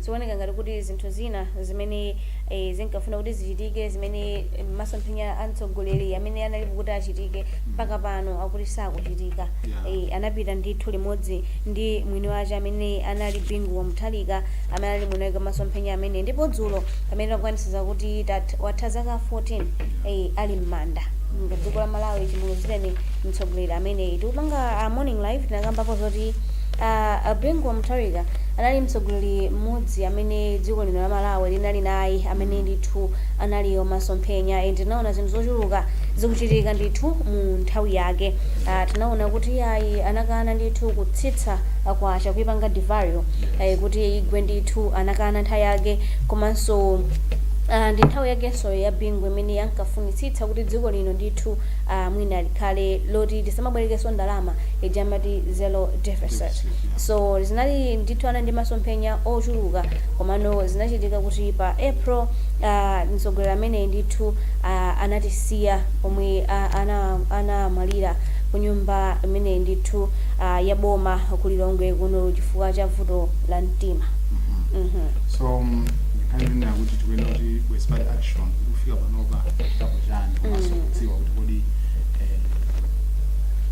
Zikuoneka ngati kuti zinthu zina zimene eh, zinkafuna kuti zichitike zimene eh, masomphenya a mtsogoleri amene analipo ankafuna kuti achitike mpaka pano akuti sakuchitika Yeah. Eh, anapita ndithu limodzi ndi mwini wake amene anali Bingu wa Mutharika amene ali mwini wake masomphenya amenewa ndipo dzulo pamene inakwanitsidza kuti tat- watha zaka 14 eh, ali m'manda nda dziko la malawi chimuluzileni mtsogoleri ameneyi tikupanga morning live tinakambapo zoti A Bingu wa Mutharika anali mtsogoleri mmodzi amene dziko lino la Malawi linali naye amene ndithu anali wa masomphenya and tinaona zinthu zochuluka zikuchitika ndithu mu nthawi yake. Ah, tinaona kuti iyayi anakana ndithu kutsitsa ah, kwacha kuipanga devalue eh, kuti igwe ndithu anakana nthawi yake komanso Ah, ndi nthawi yakenso ya Bingu imene ankafunitsitsa kuti dziko lino ndithu ah, mwina likhale loti tisamabwerekenso ndalama ija amati zero deficit so zinali ndithu anali ndi masomphenya ochuluka komano zinachitika kuti pa April uh, mtsogoleri ameneyi ndithu uh, anatisiya pomwe uh, ana anamwalira ku nyumba imene ndithu uh, ya boma ku Lilongwe kuno chifukwa cha vuto la mtima Mhm. so um, nkhani ndinena kuti tikuyenera kuti ku expert action kufika panopa tapanga chani komanso kudziwa kuti kodi eh,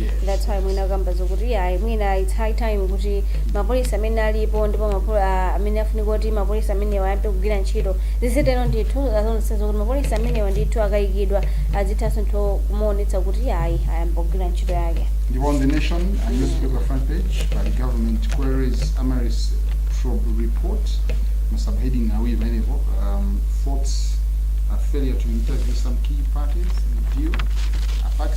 Yes. that's why mwina kamba zokuti iyayi mwina it's high time kuti mapolisi amene alipo ndipo mapol- ah, amene afunika kuti mapolisi amenewa ayambe kugwira ntchito zizitero ndithu azionetsetsa kuti mapolisi amenewa ndithu akayikidwa azithanso kumaonetsa kuti iyayi ayamba kugwira ntchito yake ndipo on The Nation newspaper front page pali government queries Amaryllis probe report ma subheading awiri pamenepo um, faults a failure to interview some key parties in the deal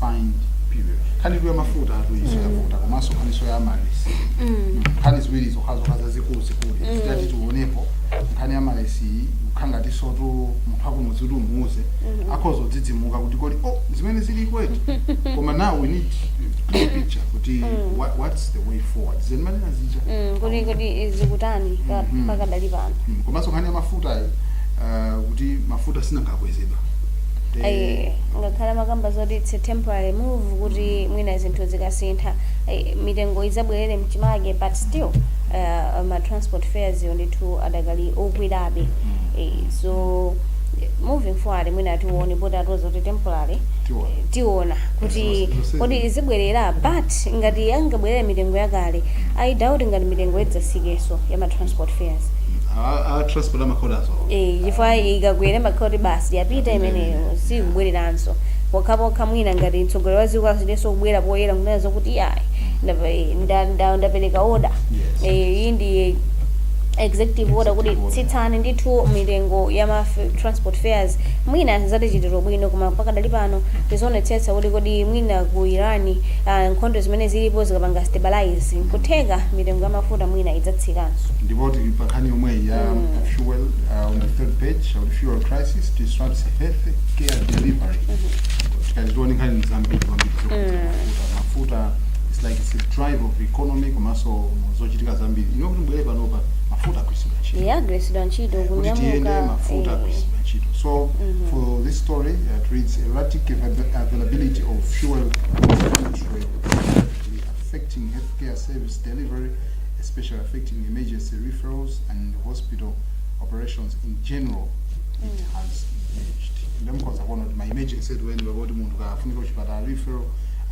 find period nkhani ya mafuta yatuluka iyo yavuta komanso nkhaninso ya Amaryllis Mm. nkhani ziwiri zokhazokha zazikulu zikulu Mm. titati tionepo nkhani ya Amaryllis iyi kukhala ngatinso tu munthu akumudzi kuti umuuze Mhm. akhoza kudzidzimuka kuti kodi oh zimene zili kweti koma now we need clear picture kuti Mm. what, what's the way forward zimene azija Mm, kuti kuti zikutani pa- Mhm. pakadali pano Mm, komanso nkhani ya mafuta iyi uh, kuti mafuta sanakwezedwe Ayi, ngakhale amakamba zoti it's a temporary move kuti mwina zinthu zikasintha ayi, mitengo idzabwerere mchimake but still uh, ma transport fares yo ndithu adakali okwerabe Eh, so eh, moving forward mwina tione poti atiuza kuti temporary Tiona. eh, tiona kuti Zose- zose- kodi izidzabwerera but ngati angabwerere mitengo yakale I doubt ngati mitengo idzatsikenso ya ma transport fares a a transport amakonda Eh, chifukwa ikagwera imakhala kuti basi yapita imeneyo sizibwereranso pokhapokha mwina ngati mtsogoleri wa dziko abwerenso kubwera poyera kunena zokuti iyayi ndapa- eh, nda- nda- ndapereka oda Yes. Eh, iyi ndi executive order kuti Executive order. tsitsani ndithu mitengo ya ma f- transport fares mwina zatichitira bwino koma pakadali pano tizionetsetsa kuti kodi mwina ku iran ah, nkhondo zimene zilipo zikapanga stabilize nkutheka mitengo ya mafuta mwina idzatsikanso ndipo tili pa nkhani yomweyi ya Mm. fuel uh, on the third page on fuel crisis disrupts health care delivery tikati tione nkhani zambiri kwambiri zokuti mafuta it's like it's a drive of economy komanso zochitika zambiri ino kuti mbwere panopa mafuta agwiritsidwa ntchito iye agwiritsidwa ntchito kuti tiyende kunyamuka mafuta eh, agwiritsidwa ntchito so for this story uh, it reads erratic avail- availability of fuel continues affecting healthcare service delivery especially affecting emergency referrals and hospital operations in general it has diminished nde mukhoza kuona kuti ma emergencies eni eni kuti munthu kafunika kuchipatala referral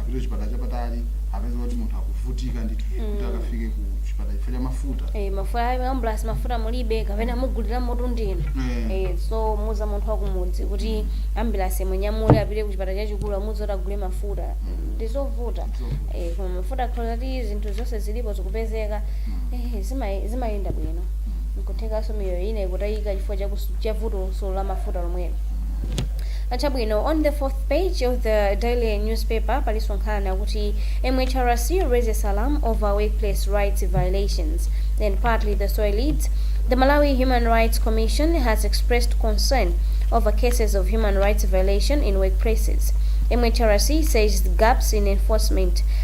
apite kuchipatala chapatali kupeza kuti munthu akuvutika ndithu kuti akafike ku chipatala chifukwa cha mafuta Eh, mafuta ayi ambulance mafuta mulibe kapena mugulire mafuta ndinu Mm. eh, so kumuuza munthu wakumudzi kuti ambulance imunyamule apite kuchipatala chachikulu amuuze kuti agule mafuta ndizovuta Ndizovuta. eh, koma mafuta akakhala kuti zinthu zonse zilipo zikupezeka ehe zima- zimayenda bwino nkuthekanso miyoyo ina ikutayika chifukwa cha kus- cha vutonso la mafuta lomwelo achabwino on the fourth page of the daily newspaper palinso nkhani yakuti mhrc raises alarm over workplace rights violations and partly the story reads the malawi human rights commission has expressed concern over cases of human rights violation in workplaces mhrc says the gaps in enforcement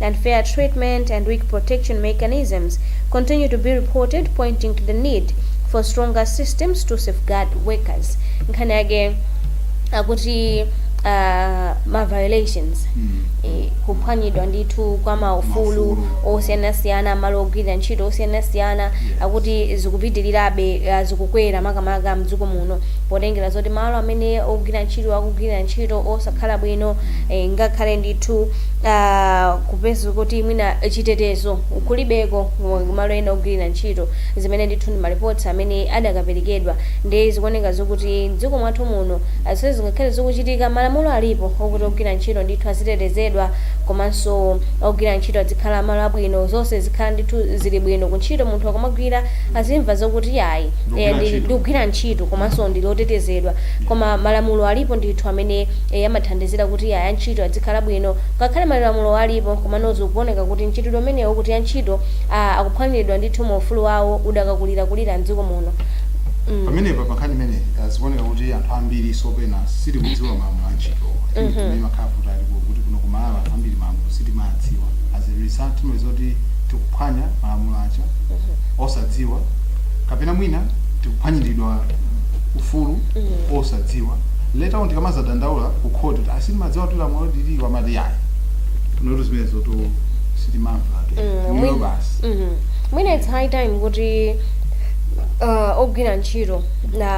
unfair treatment and weak protection mechanisms continue to be reported pointing to the need for stronger systems to safeguard workers nkhani yake akuti uh, ma violations Mm. eh, kuphwanyidwa ndithu kwa maufulu Maufulu. osiyanasiyana malo ogwirira ntchito osiyanasiyana akuti zikupitirirabe eh, zikukwera makamaka mdziko muno potengera zoti malo amene ogwira ntchito akugwirira ntchito osakhala bwino eh, ngakhale ndithu ah, kupeza kuti mwina chitetezo kulibeko mu malo ena ogwirira ntchito zimene ndithu ndi malipoti amene adakaperekedwa ndi zikuoneka zokuti dziko mwathu muno ah, zimene zingakhale zikuchitika malamulo alipo okuti ogwira ntchito ndithu azitetezedwa komanso ogwira ntchito azikhala malo abwino zonse zizikhala ndithu zili bwino ku ntchito munthu akamagwira azimva zokuti ayi Ndikugwira eh, ndi- ntchito. ndikugwira ntchito komanso ndili otetezedwa koma malamulo alipo ndithu amene Eya amathandizira kuti antchito adzikhala bwino ngakhale malamulowa alipo komano zikuoneka kuti mchitidwe umenewu wokuti antchito a akuphwanyiridwa ndithu ma ufulu awo udakakulira kulira mdziko muno mm. Pamenepa pa nkhani imeneyi ah, zikuoneka kuti anthu ambiri penapake sitikudziwa malamulo a ntchitowa I think timangokhala kuti alipo kuti kuno ku Malawi anthu ambiri malamulo sitimadziwa as a result timapezeka kuti tikuphwanya malamulo aja osadziwa kapena mwina tikuphwanyiridwa ufulu osadziwa later on tikamazadandaula ku court kuti ah sitimadziwa kuti lamulo lilipo amati yayi noto zimenezo to sitimamva ayi Mm, inuyo mwina- basi Mhm. mwina it's high time kuti uh, ogwira ntchito na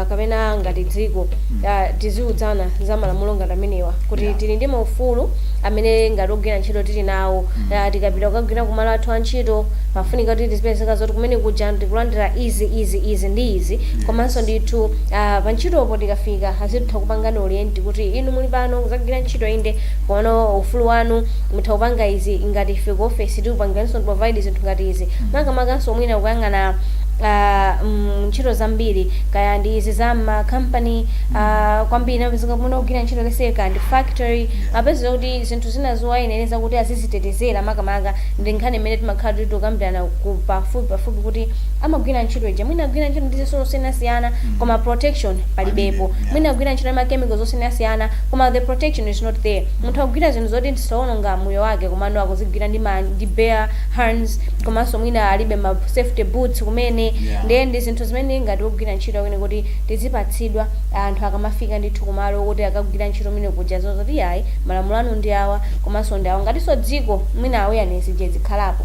uh, kapena ngati dziko uh, tiziuzana za malamulo ngati amenewa kuti Yeah. tili ndi maufulu amene ngati ogwira ntchito tili nawo uh, tikapita kukagwira kumalo athu a ntchito pafunika kuti tizipezeka zoti kumene kuja ndikulandira izi izi izi ndi izi komanso ndithu Ah, pa ntchitopo tikafika azitha kupangani orient kuti inu muli pano kuzagwira ntchito inde komano ufulu wanu mutha kupanga izi ngati ife ku office tikupangiraninso provide zinthu ngati izi makamakanso mwina kuyang'ana ah, mm, ntchito zambiri kaya ndi izi za ma company ah, kwambiri umapezeka kumene ogwira ntchito let's say kaya ndi factory apezeka kuti zinthu zina zowayenereza kuti azizitetezera makamaka ndi nkhani imene timakhala tili tikukambirana pafupi pafupi kuti amagwira ntchito ija mwina agwira ntchito ndi zitsulo zosiyanasiyana mm. koma protection palibepo yeah. mwina agwira ntchito ndi ma chemical zosiyanasiyana koma the protection is not there munthu akugwira zinthu zoti zitha kuononga moyo wake komano akuzigwira ndi, ma, ndi bare hands komanso mwina alibe ma safety boots kumene yeah. ndiye ndi zinthu zimene ngati wogwira ntchito timayenera kuti tizipatsidwa anthu akamafika ndithu kumalo kuti akagwira ntchito kumene kuja auzidwe zoti ayi malamulo anu ndi awa komanso ndi awa ngatinso dziko mwina awareness ija izikhalapo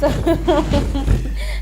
so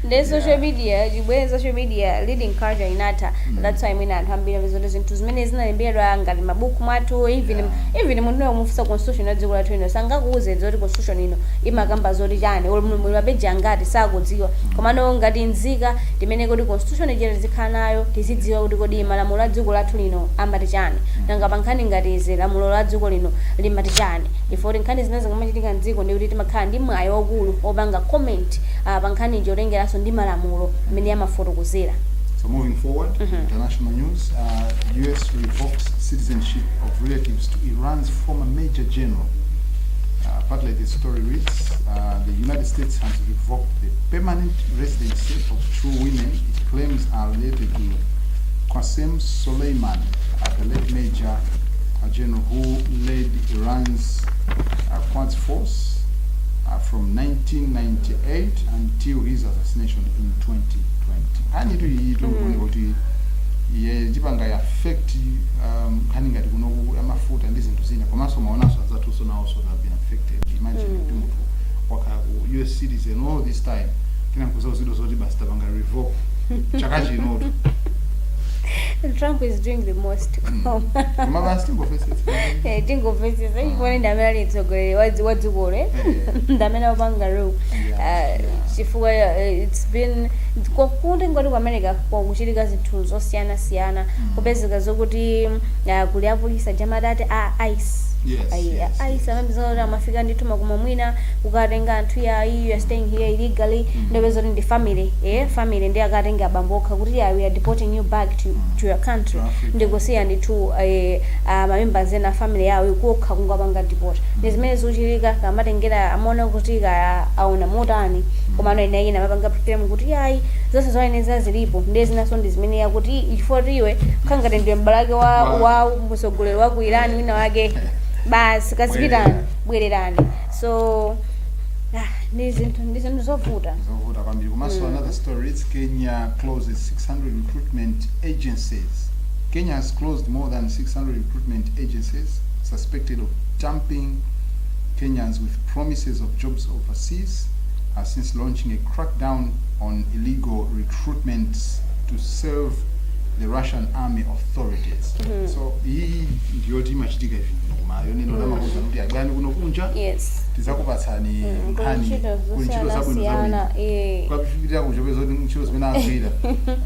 nde social media chibwere social media reading culture inatha that's why mwina anthu ambiri amazaona zoti zinthu zimene zinalembedwa ngati mabuku mwathu even even munthu wina kumufunsa constitution ya dziko lathu ino sangakuuze zoti constitution ino imakamba zoti chani olo muli mapeji angati sakudziwa komano ngati nzika timayenera kuti constitution ijere tizikhala nayo tizidziwa kuti kodi malamulo a dziko lathu lino amati chani nanga pankhani ngati izi lamulo la dziko lino limati chani ife kuti nkhani zimene zikamachitika mdziko ndi kuti timakhala ndi mwayi waukulu wopanga comment ah, pa nkhani potengeranso ndi malamulo mmene amafotokozera So moving forward, international news, uh, U.S. revokes citizenship of relatives to Iran's former Major General. Uh, part like the story reads, uh, the United States has revoked the permanent residency of two women it claims are related to Qasem Soleimani, uh, the late Major uh, General who led He runs uh, Quds Force uh, from 1998 until his assassination in 2020. Nkhani tu iyi tu mm. kuti iye chipanga affect um, nkhani ngati kuno ku- amafuta ndi zinthu zina komanso maonanso anzathuso nawonso they have been affected. Imagine Mm. kuti munthu wakhala ku US citizen all this time kenako nkuzauzidwa zoti basi tapanga revoke chaka chinotu. Trump is doing the most. koma basi tingofe Eh, tingomvetsetsa chifukwa ndi amene ali mtsogoleri wa dzi- wa dzikolo eh? ndi amene wapanga rule Ah, chifukwa eh, it's been kwa- kuti ngati ku america kwakuchitika zinthu zosiyanasiyana kupezeka zokuti ah, kuli apolisa jamati ati a ice Yes, Ayi, yes, a yes. ice amapeza kuti amafika ndithu makomo mwina kukatenga anthu ya you are staying here illegally ndiye upeza kuti ndi family eh family ndi akatenga abambo okha kuti yeah, we are deporting you back to, to your country ndikusiya ndithu eh, ah, mamembers ena a family yawo ikokha kungopanga deport ndi zimene zikuchitika kamatengera amaona kuti kaya aona motani komano ena ena amapanga complain kuti ayi zonse zoyenereza zilipo ndiye zinanso ndi zimene yakuti chifukwa kuti iwe ngati ndiwe m'bale wake wa, wa mtsogoleri wa ku irani wina wake basi kazipitani bwererani so ah, ndi zinthu ndi zinthu zovuta zovuta kwambiri komanso another story it's kenya closes 600 recruitment agencies, Kenya has closed more than 600 recruitment agencies suspected of duping Kenyans with promises of jobs overseas, has since launching a crackdown on illegal recruitments to serve the Russian army authorities. Mm -hmm. So iyi ndiyo timachitika ivi koma yonena mm. lamakuza kuti abwani kuno kunja yes. tizakupatsani mm, nkhani kuntchito zabwino zabwino akafika uko kupeza kuti ntchito zimene agwira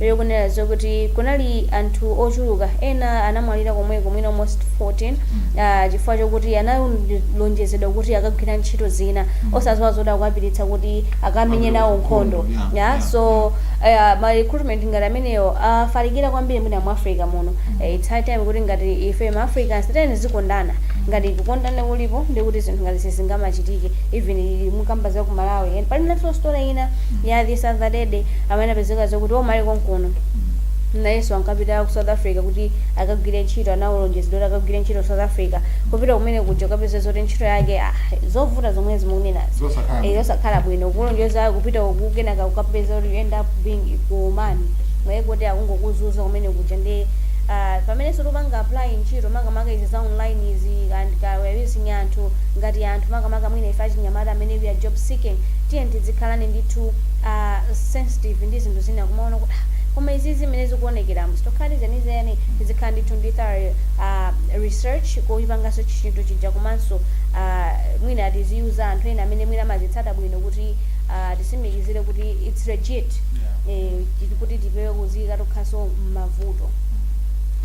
Lero kunena zokuti kunali anthu ochuluka ena anamwalira komweko mwina almost 14 uh, chifukwa chokuti analonjezedwa kuti akagwira ntchito zina osaziwa zoti akuwapititsa kuti akamenye nawo nkhondo Yeah, yeah, yeah. so uh, ma recruitment ngati amenewo afalikira kwambiri mwina mu africa muno Eh, it's high time kuti ngati ife ma africans tiyeni tizikondana ngati kukondana kulipo ndiye kuti zinthu ngati sizingamachitike even tikamba za ku malawi and pali naso story ina ya this other day amene anapezeka zakuti anali konkuno nayenso ankapita ku south africa kuti akagwire ntchito analonjezedwa kuti akagwire ntchito ku south africa kupita kumene kuja ukapeza zoti ntchito yake ah, zovuta zomwe mukunenazo Zosakhala. Eh, yosakhala bwino kulonjeza kupita uku kenaka ukapeza kuti you end up being kuumani mwaye kuti akungokuzunza kumene kuja ndi ah, pamene tikupanga apply ntchito makamaka izi za online izi and kawawising anthu ngati anthu makamaka mwina ife achinyamata amene we are job seeking tiye tidzikhala ndithu a sensitive ndi zinthu zina kumaona kuti "Ah, koma izizi zimene zikuonekera mutokhala zenizeni tizikhala ndithu ndi thorough ah, research kochipangaso chinthu chija komanso ah, mwina tiziwuza anthu ena amene mwina amazitsata bwino kuti ah, tisimikizire kuti its legit eh, ndi kuti tipewe kuziyika tokhaso mmavuto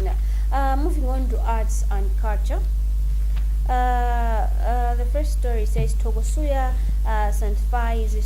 yeah. uh, moving on to arts and culture uh, uh, the first story says togosuya uh, sanctifies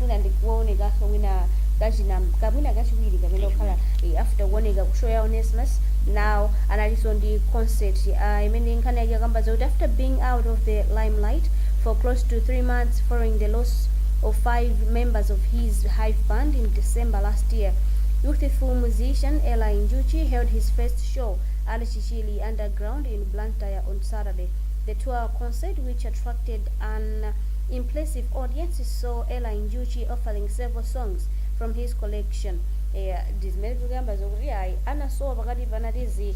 mwina ndikuonekanso mwina kachinaka mwina kachiwiri kamene kukhala eh, after kuoneka ku show ya Onesimus now analinso ndi concert uh, imene nkhani yake akamba zakuti after being out of the limelight for close to three months following the loss of five members of his hive band in december last year youthful musician Eli Njuchi held his first show at Chichiri underground in blantyre on saturday the tour concert which attracted an impressive audience so Eli Njuchi offering several songs from his collection eya ndizimene zikuyamba zokuti ayi anasowa pakati pa anatisiya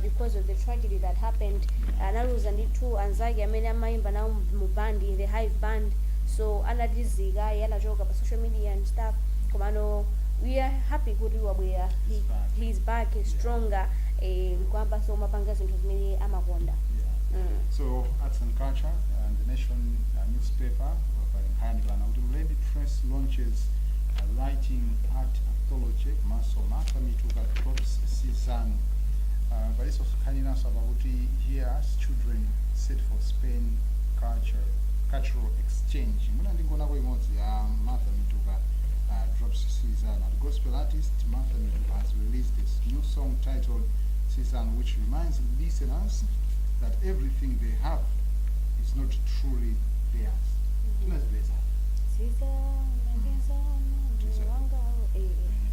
because of the tragedy that happened analuza ndithu anzake amene amayimba nawo mu- mu band in the hive band so anatisiyakayi anachoka pa social media and stuff komano we are happy kuti wabwera he, He's back. he is back he's stronger eh, kuyambaso kumapanga zinthu zimene amakonda Yeah. mm. So arts and culture in the nation uh, newspaper. Pa pali nkhani pano kuti Mlembi Press launches a writing art anthology komanso Martha Mituka drops season. Uh, palinso nkhani inanso apa kuti Hear Us Children set for Spain culture cultural exchange. Mwina ndingonako imodzi ya Martha Mituka uh, drops season. Ati gospel artist Martha Mituka has released this new song titled season which reminds listeners that everything they have is not truly theirs tinazipeza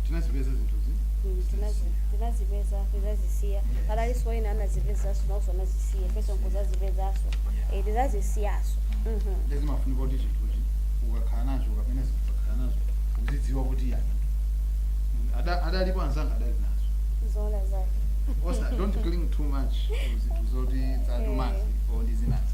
tinazipeza zinthuzi tinazipeza tizazisiya analiposo ena anazipezaso naoso anazisiya enaso nkuzazipezaso Eh, tizazisiyaso Mhm. nde zimafunika kuti chinthuchi ukakhala nacho kapena ukakhala nazo uzidziwa kuti yani Ada- adalipo anzanga adali nazo zoona zake also don't cling too much to zinthu zoti material ndi zina zi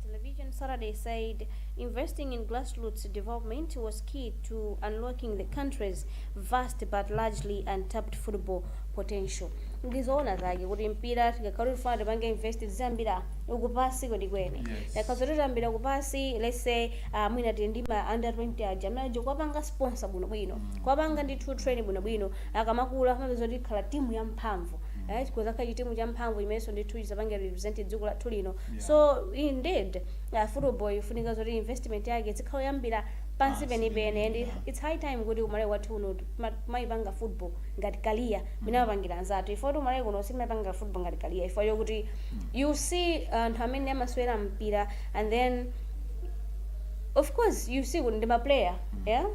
Television Saturday said investing in grassroots development was key to unlocking the country's vast but largely untapped football potential. Ndizoona zake kuti mpira tikakhala tifuna tipange invest tiziyambira kupansi kwenikweni. Yes. Tikhoza tiziyambira kupansi let's say uh, mwina tili ndi ma under 20 aja amene aja kuwapanga sponsor bwinobwino. Kuwapanga ndithu train bwinobwino akamakula amapezeka kuti akhala timu yamphamvu. Right? Kuzakhala chitimu champhamvu chimenenso ndithu chizapange represent dziko lathu lino Yeah. so indeed uh, football ifunika zoti investment yake izikhala yoyambira pansi Pansi penipeni and penipeni, yeah. its high time kuti kumalawi kwathu kuno tiziyipanga football ngati career mmene amapangira anzathu chifukwa choti kumalawi kuno sitimayipanga football ngati career chifukwa chokuti you see anthu amene amasewera mpira and then of course you see kuti ndi maplayer yeah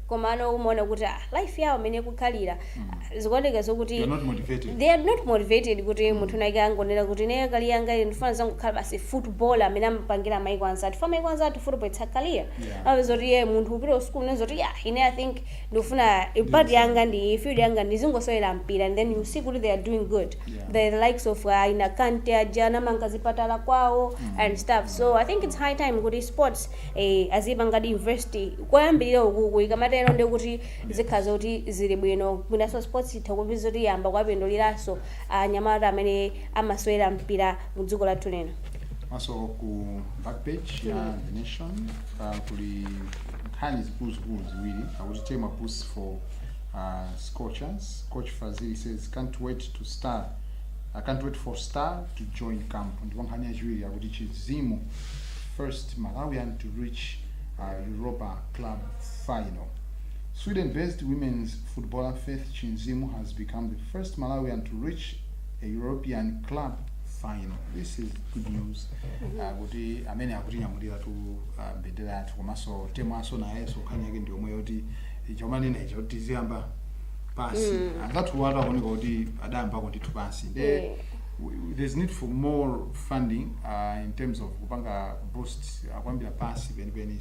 komano umaona kuti ah, life yawo mmene ikukhalira zikuoneka zokuti They are not motivated. they are not motivated kuti munthu atha kungonena kuti ine career yanga iyi ndikufuna izingokhala basi football mmene amapangira maiko anzathu chifukwa maiko anzathu football it's a career Yeah. ayi zoti eh munthu kupita ku school unena zoti ya ine i think ndikufuna part yanga ndi iyi, field yanga ndizingosewera mpira and then you see kuti they are doing good Yeah. the likes of uh, ana Kante aja anamanga zipatala kwawo and stuff so i think it's high time kuti sports eh, azipangadi invest koyambirira kukuku zikamatero ndekuti zikhala zoti zili bwino mwinanso sports itha kupeza zoti yayamba kuwapinduliranso anyamata amene amasewera mpira mu dziko lathu lino maso ku back page ya the nation uh, kuli nkhani zikuluzikulu ziwiri akuti Temwa boost for uh, scorchers coach fazili says can't wait to star I can't wait for star to join camp ndipo nkhani yachiwiri akuti Chinzimu first malawian to reach uh, European club final Sweden based women's footballer Faith Chinzimu has become the first Malawian to reach a European club final. This is good news. Uh, kuti amene akutinyamulira tu uh, mbendera yathu komanso Temwanso nayenso nkhani yake ndi yomweyo ti chomanena icho tiziyamba pansi mm. anzathuwatu akuoneka kuti adayambako ndithu pansi nde Yeah. w- there's need for more funding uh, in terms of kupanga boost uh, kuyambira pansi penipeni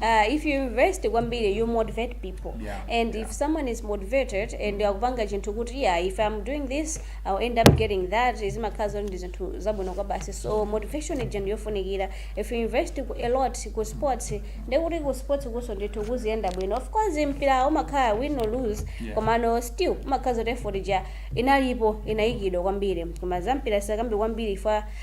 Uh, if you invest kwambiri you motivate people yeah, and yeah. if someone is motivated and mm. akupanga chinthu kuti yeah if i'm doing this i'll end up getting that zimakhala zoti ndi zinthu zabwino kwabasi so motivation ija ndiyofunikira if you invest a lot ku sports ndekuti ku sports kunso ndithu kuziyenda bwino of course mpira umakhala win or lose yeah. komano still umakhala zoti effort ija inalipo inayikidwa kwambiri koma za mpira sikambi kwambiri fa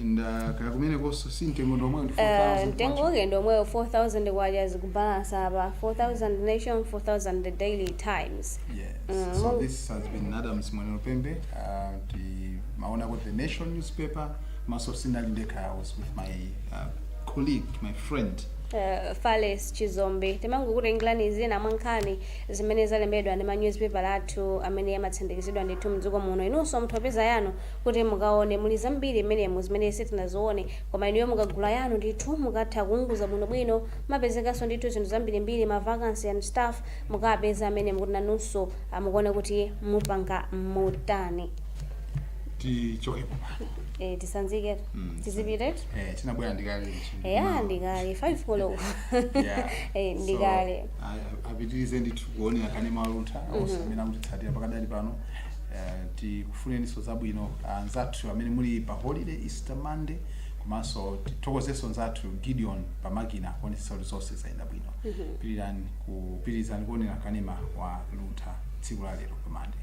and uh, kaya kumenekonso si mtengo ndi omwewo ndi Eh, 4000 mtengo kwacha. wake ndi omwewo 4000 kwacha zikubalansa apa 4000 nation 4000 the daily times Yes. Mm, so mong- this has been Adams Mwanero Pembe. Uh, the Maona got the Nation newspaper. Komanso sindinali ndekha. I was with my uh, colleague, my friend. eh, fales chizombe timangokutengerani zina mwa nkhani zimene zalembedwa ndi ma newspaper athu amene amatsindikizidwa ndithu mdziko muno inunso mutha kupeza yanu kuti mukaone muli zambiri mmenemo zimene sitinazione koma inuyo mukagula yanu ndithu mukatha kuunguza bwinobwino mumapezekamonso ndithu zinthu zambirimbiri ma vacancy and stuff mukapeza mmenemo kuti nanunso ah, mukuone kuti mupanga motani tichokepo pano eh, titsanziketu Mm, tizipitiratu eh, tinabwera ndikale ichi. eya Mawa. ndikale 5 koloko Yeah. Eh, So, ndikale apitirize ndithu kuonera kanema Luntha onse amene akutitsatira pakadali pano eh, ti Tifunenso zabwino anzathu amene muli pa holiday, Easter Monday, komanso tithokozenso nzathu Gideon pa makina kuonetsetsa kuti zonse zayenda bwino. Pilirani pitilizani kuonera kanema wa Luntha tsiku la lero pa Monday.